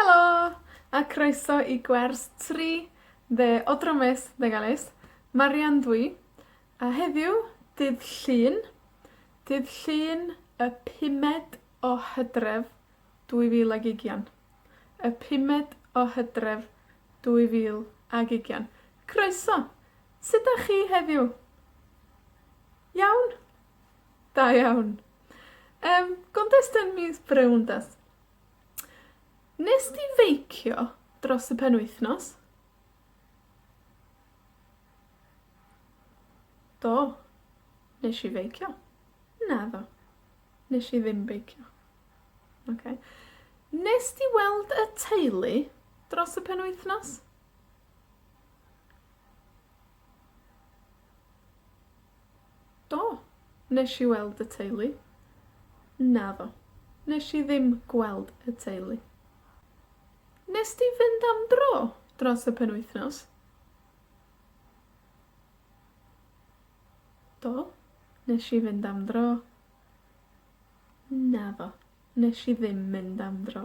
Helo! A croeso i gwers tri dde o Dramys Megalys. Marian dw i, a heddiw, dydd Llun, dydd Llun y pumed o Hydref, dwy fil ag ugian. Y pumed o Hydref, dwy fil ag ugian. Croeso! Sud 'dach chi heddiw? Iawn? Da iawn. Yym, gontes yn mis Brown 'de? Wnest ti feicio dros y penwythnos? Do, nesh i feicio. Naddo, nesh i ddim beicio. Oce. Wnest ti weld y teulu dros y penwythnos? Do, nesh i weld y teulu. Naddo, nesh i ddim gweld y teulu. Nest ti fynd am dro dros y penwythnos? Do, nesh i fynd am dro. Naddo, nesh i ddim mynd am dro.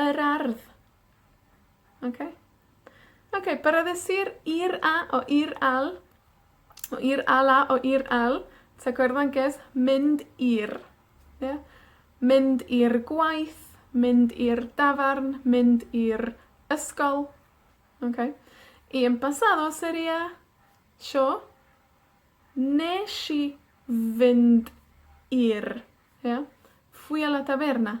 Yr ardd. Oce? Oce, barddus i'r i'r a o i'r al, o i'r al a o i'r al, tag o i'r ddengys, mynd i'r, ie? Mynd i'r gwaith, mynd i'r dafarn, mynd i'r ysgol. Oce? Y en pasado sería tro, nesh i fynd i'r, ie? Fui a la taverna.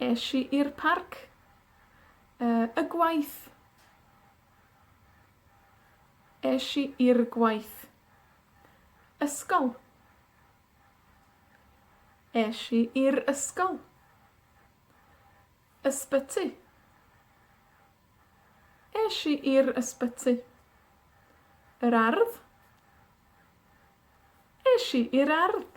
Esh i i'r parc, yy, y gwaith. Esh i i'r gwaith. Ysgol. Esh i i'r ysgol. Ysbyty. Esh i i'r ysbyty. Yr ardd. Esh i i'r ardd.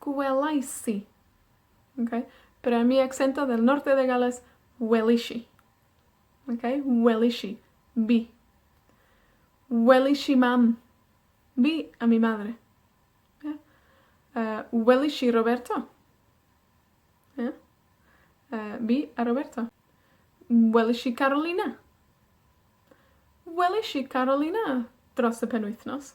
Gwelais i. Oce? But I mi accento del norte de Gales, welish i. Oce? Welish i. Vi. Welish i Mam. Vi a mi madre. Ia? Yy, welish i Roberto. Ia? Yy, fi a Roberto. Welish i Carolina. Welish i Carolina dros y penwythnos.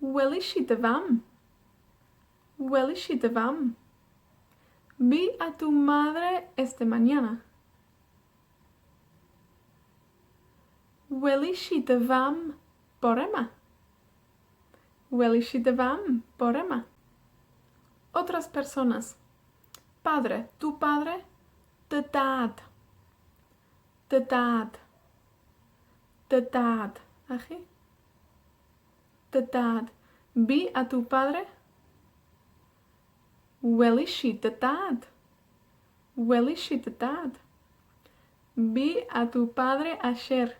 Welish i dy fam. Welish i dy fam. Vi a tu madre este mañana. Welish i dy fam bore 'ma. Welish i dy fam bore 'ma. Otras personas. Padre, tu padre, dy dad. Dy dad. Dy dad. A chi? Dy dad. Vi a tu padre? Welis i dy dad. Welis i dy dad. Vi a tu padre ayer.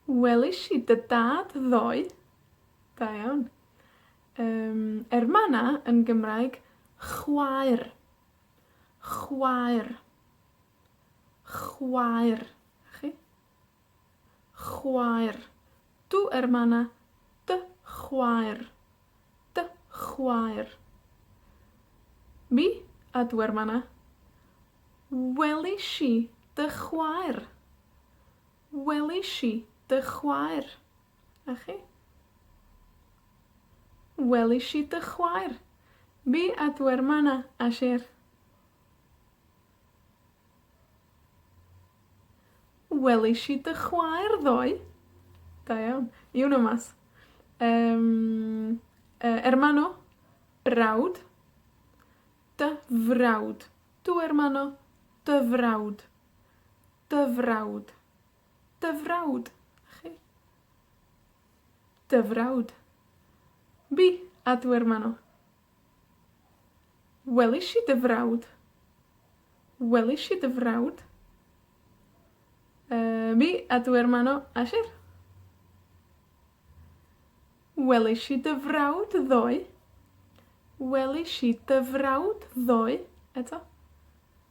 Welis i dy dad ddoe. Da iawn. Yym, er ma' 'na yn Gymraeg, chwaer. Chwaer. Chwaer. 'Na chi. Chwaer. Tu ermana. Dy chwaer. Dy chwaer. Mi a tu hermana. Welish i dy chwaer. Welish i dy chwaer. A chi? Welish i dy chwaer. Mi a dw i'r man 'na, a sher. Welish i dy chwaer ddoe. Da iawn. You know Math. Yym, yy, ermano, brawd. Dy frawd. Tu ermano, dy frawd. Dy frawd. Dy frawd chi. Dy frawd. Bi, a dw i'r man 'na. Welish i dy frawd. Welish i dy frawd. Yy, mi, a dw i'r man 'na. Esh i? Welish i dy frawd ddoe. Welish i dy frawd ddoe, eto.